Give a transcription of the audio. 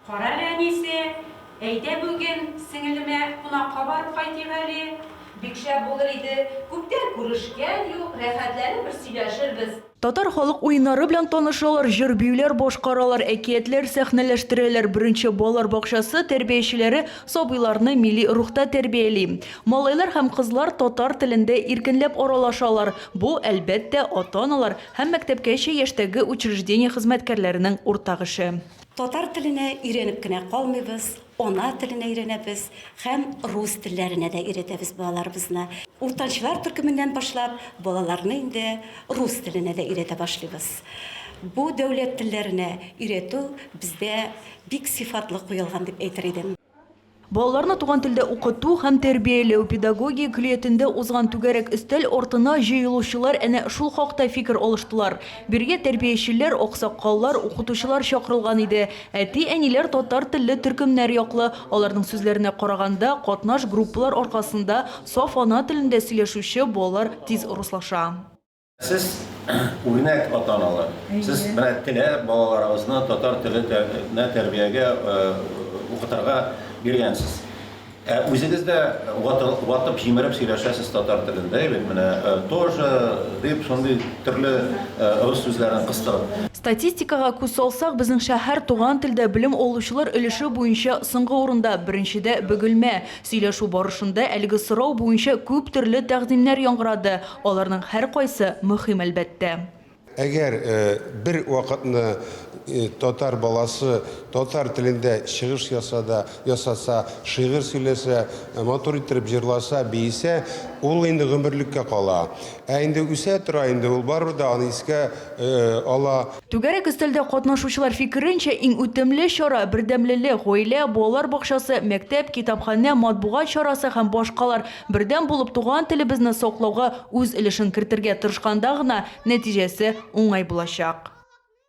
Карале, әнисе, әйдә бүген сеңелемә кунакка барып кайтыйк әле. Бик шәп булыр иде, күптән күрешкән юк, рәхәтләнеп бер сөйләшербез. Татар халык уеннары белән танышалар, җыр-биюләр башкаралар, әкиятләр сәхнәләштерәләр, беренче балалар бакчасы тәрбиячеләре сабыйларны милли рухта тәрбияли. Малайлар һәм кызлар татар телендә иркенләп аралашалар, бу, әлбәттә, ата-аналар һәм мәктәпкәчә яшьтәге учреждение хезмәткәрләренең уртак эше. Татар теленә өйрәнеп кенә калмыйбыз, ана теленә өйрәнәбез һәм рус телләренә дә өйрәтәбез балаларыбызны. Уртанчылар төркеменнән башлап, балаларны инде рус теленә дә өйрәтә башлыйбыз. Бу дәүләт телләренә өйрәтү бездә бик сыйфатлы куелган дип әйтер идем. Балаларны туган телдә укыту һәм тәрбияләү педагогия көллиятендә узган түгәрәк өстәл артына җыелучылар әнә шул хакта фикер алыштылар. Бирегә тәрбиячеләр, аксакаллар, укытучылар чакырылган иде. Әти-әниләр татар телле төркемнәр яклы. Аларның сүзләренә караганда, катнаш группалар аркасында саф ана телендә сөйләшүче балалар тиз урыслаша. Сез үрнәк ата-аналар. Сез менә теләп балаларыгызны татар теленә тәрбиягә укытырга биргәнсез. Ә үзегез дә ватып җимереп сөйләшәсез татар телендә, әйбәт менә тоже дип шундый төрле рус сүзләрен кыстырып. Статистикага күз салсак, безнең шәһәр туган телдә белем алучылар өлеше буенча соңгы урында, беренчедә Бөгелмә. Сөйләшү барышында әлеге сорау буенча күп төрле тәкъдимнәр яңгырады, аларның һәркайсы мөһим, әлбәттә. Әгәр бер вакытны татар баласы татар телендә чыгыш ясада, ясаса, шигырь сөйләсә, матур иттереп җырласа, биесә, ул инде гомерлеккә кала. Ә инде үсә тора инде ул барыбер дә аны искә ала. Түгәрәк өстәлдә катнашучылар фикеренчә, иң үтемле чара, бердәмлелек, гаилә, балалар бакчасы, мәктәп, китапханә, матбугат чарасы һәм башкалар бердәм булып туган телебезне саклауга үз өлешен кертергә тырышканда гына нәтиҗәсе уңай булачак.